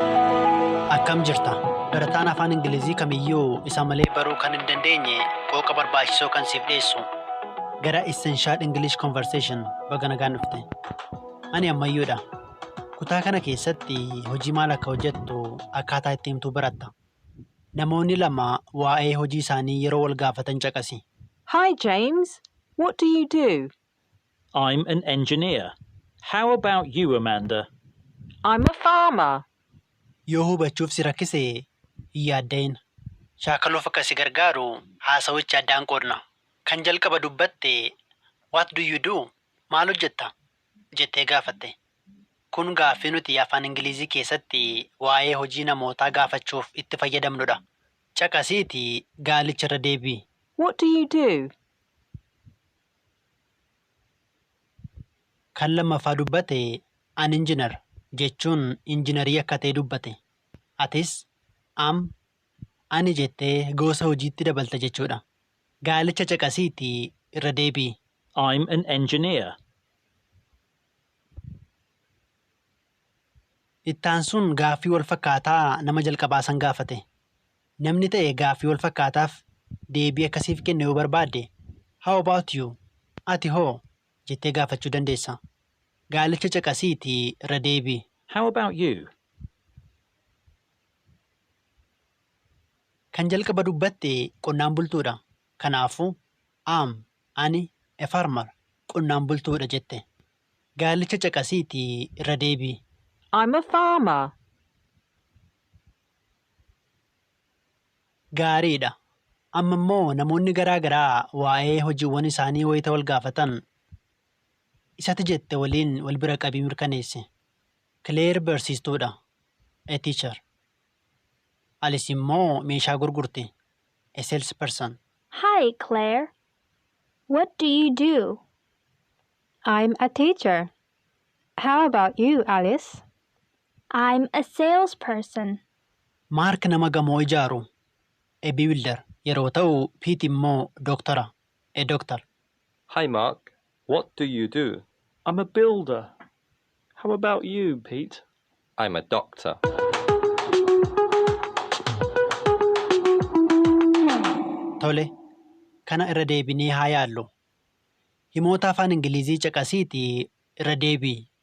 Akkam jirta? Barataan afaan Ingilizii kamiyyuu isa malee baruu kan hin dandeenye qooqa barbaachisoo kan siif dhiyeessu. Gara Essential English Conversation baga nagaan dhufte. Ani ammayyoodha. Kutaa kana keessatti hojii maal akka hojjettu akkaataa itti himtuu baratta. Namoonni lama waa'ee hojii isaanii yeroo wal gaafatan caqasi. Hi James, what do you do? I'm an engineer. How about you, Amanda? I'm a farmer. Yoo hubachuuf si rakkise hin yaadda'in. Shaakaluuf akka si gargaaru haasawicha addaan qoodna. Kan jalqaba dubbatte What do you do? Maal hojjetta? jettee gaafatte. Kun gaaffii nuti Afaan Ingiliizii keessatti waa'ee hojii namootaa gaafachuuf itti fayyadamnudha. Caqasiitii gaalicha irra deebi'i. What do you do? Kan lammaffaa dubbate an injinar jechuun injinarii akka ta'e dubbate. Atis am, ani jettee goosa hojiitti dabalta jechuudha. Gaalicha caqasiiti irra deebi'i. I'm an engineer. Ittaansuun gaaffii walfakkaataa nama jalqabaa san gaafate. Namni ta'e gaaffii wal fakkaataaf deebii akka siif kennu yoo barbaadde, How about you? Ati hoo? jettee gaafachuu dandeessa. Gaalicha caqasiitii irra deebi'i. How about you? Kan jalqaba dubbatte qonnaan bultuudha. Kanaafuu, Am, ani, a farmer, qonnaan bultuudha jette. Gaalicha caqasiitii irra deebi'i. I'm a farmer. gaariidha. Amma immoo namoonni garaa garaa waa'ee hojiiwwan isaanii wayita wal gaafatan isa ati jette waliin wal bira qabii mirkaneessi. Kileer barsiistuudha, a teacher. Alis immoo meeshaa gurgurti, a salesperson. Hi Claire, what do you do? I'm a teacher. How about you, Alice? I'm a sales person. Mark nama gamoo ijaaru, a builder, yeroo ta'u, Pete immoo doktora, a doctor. Hi Mark, what do you do? I'm a builder. How about you, Pete? I'm a doctor. Tole, kana irra deebinee haa yaallu. Himoota Afaan Ingiliizii caqasiitii irra deebi'i.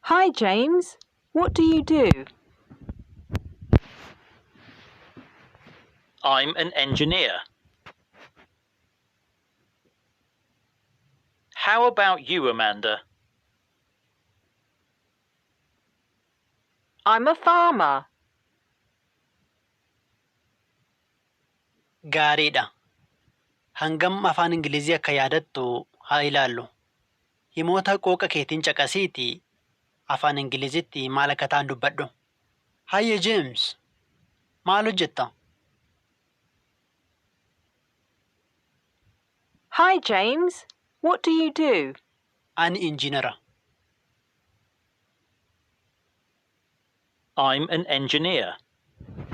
Hi James, what do you do? I'm an engineer. How about you, Amanda? I'm a farmer. Gaariidha. Hangam afaan Ingilizii akka yaadattu haa ilaallu. Himoota qooqa keetiin caqasiitii Afaan Ingilizitti maal akka ta'an dubbadhu. Hayyee Jeems! Maal hojjetta? Hi James! What do you do? Ani injiinara. I'm an engineer.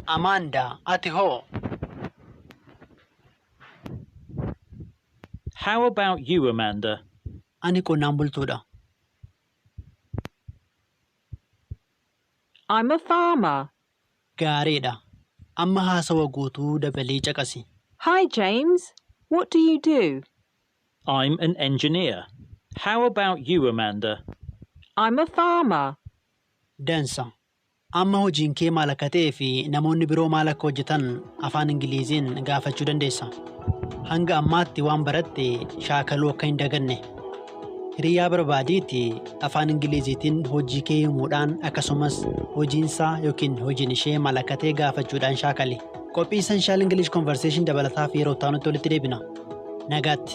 Amanda, Ati hoo? How about you, Amanda? Ani qonnaan bultuudha. I'm a farmer. Gaariidha. Amma haasawa guutuu dabalii caqasi. Hi, James. What do you do? I'm an engineer. How about you, Amanda? I'm a farmer. Dansa. Amma hojiin kee maal akka ta'ee fi namoonni biroo maal akka hojjetan afaan Ingiliiziin gaafachuu dandeessa. Hanga ammaatti waan baratte shaakaluu akka hin daganne. Hiriyaa barbaadiiti afaan Ingiliiziitiin hojii kee himuudhaan akkasumas hojiinsaa yookiin hojiin ishee maal akka ta'e gaafachuudhaan shaakali. Qophii Essential English Conversation dabalataaf yeroo itti aanutti walitti deebina. Nagaatti!